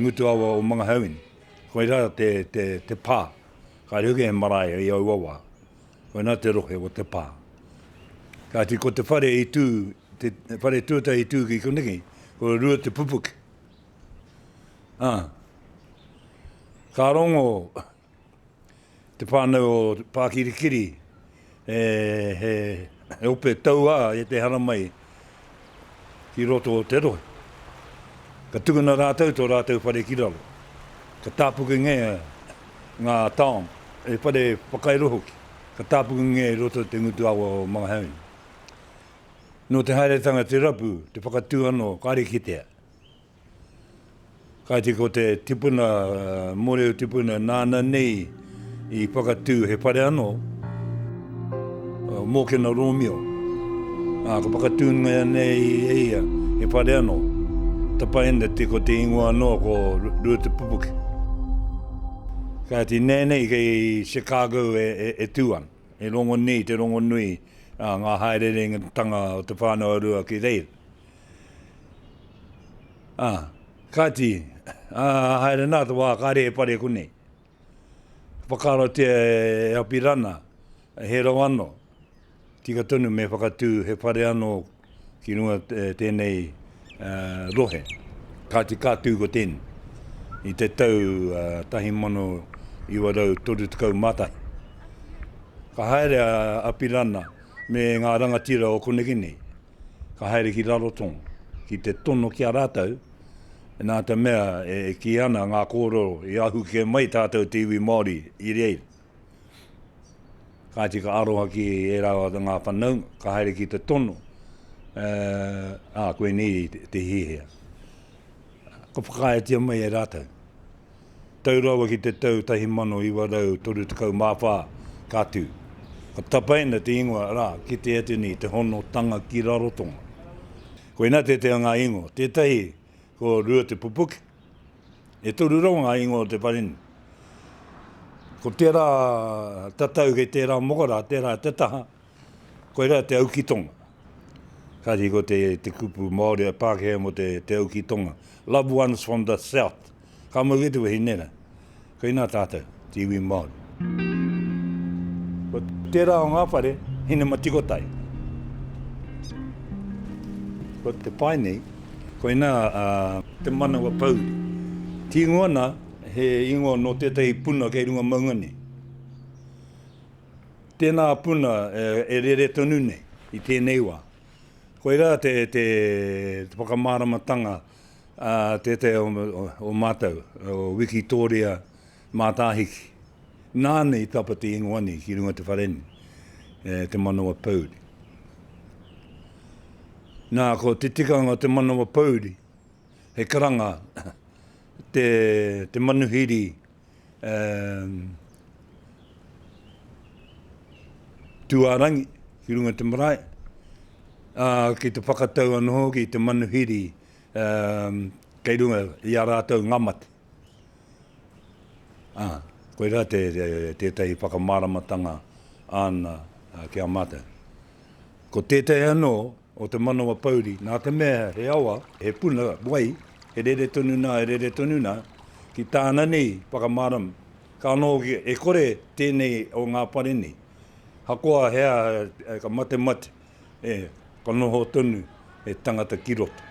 Ngutu Awa o Mangahauini. Koira te pā, kāre hoki he marae i aua wā. Koina te rohe o te pā. Kāti ko te whare i tū, te whare tuatahi i tū ki koneki, ko Rua Te Pupuke. Ka rongo, te whānau o Pākirikiri he ope tauā e te haramai ki roto o te rohe. Ka tukuna rātou tō rātou whare ki raro. Ka tāpukengia ngā taonga, he whare whakairo hoki, ka tāpukengia i roto i te ngutu awa o Mangaheine. Nō te haeretanga te rapu, te whakatū anō, kāre kitea. Kāti ko te tipuna, mōreo tipuna nāna nei i whakatū he whare anō, Mōkena Rōmio. Ā, ka whakatūngia nei e ia he whare anō, tapaina te ko te ingoa anō ko Ruatepupuke. Kāti nēnei kei Chicago e tū ana, he rongonui, te rongonui, ngā haererengatanga o te whānau a Rua ki reira. Ā, kāti, ā, haere nā te wā ka rere pare konei. Ka whakaratia e Apirana, he rau anō, tika tonu me whakatū he whare anō ki runga tēnei rohe. Kāti ka tū ko tēnei i te tau 1931. Ka haere a Apirana me ngā rangatira o koneki nei, ka haere ki Rarotonga ki te tono ki a rātou, nā te mea e kī ana ngā kōrero i ahu kē mai tātou te iwi Māori i reira. Kāti ka aroha ki ērā o ngā whanaunga, ka haere ki te tono, ā, koinei te hihia. Ka whakaaetia mai e rātou. tau rawa ki te tau 1934, ka tū. Ka tapaina te ingoa rā ki te atu nei, Te Honotanga ki Rarotonga. Koinā tētahi o ngā ingoa, tētahi ko Ruatepupuke. E toru rawa ngā ingoa o te whare nei. Ko tērā tatau kei tērā mokara, tērā te taha, Koirā te auki tonga. Kātahi ko te, te kupu Māori a Pākehā mō te, te auki tonga. Loved ones from the south. Ka mau kē te wahine rā. Koinā tātou, te iwi Māori. Ko tērā o ngā whare, Hinematikotai. Ko te pae nei, koinā a Te Manawa Pouri. Tīngoa ana he ingoa nō tētahi puna kei runga maunga nei. Tēnā puna e rere tonu nei i tēnei wā. Koirā te whakamāramatanga a tētahi o mātou, o Wikitōria Mātāhiki. Nāna i tapa te ingoa nei ki runga te whare nei, e Te Manawa Pouri. Nā, ko te tikanga o Te Manawa Pouri, he karanga te manuhiri Um, Tuarangi, ki runga te marae, uh, ki te whakatau anō hoki i te manuhiri um, kei runga i a rātou ngamate. Uh, ah, koe rā te, te, tētahi whakamāramatanga āna uh, ki a mātou. Ko tētahi anō, o te manawa pouri, nā te mea he awa, he puna wai, he rere tonu nā, he rere tonu nā, ki tāna nei whakamārama, ka noho e kore tēnei o ngā whare nei, hakoa he aha, ka matemate, ka noho tonu he tangata ki roto.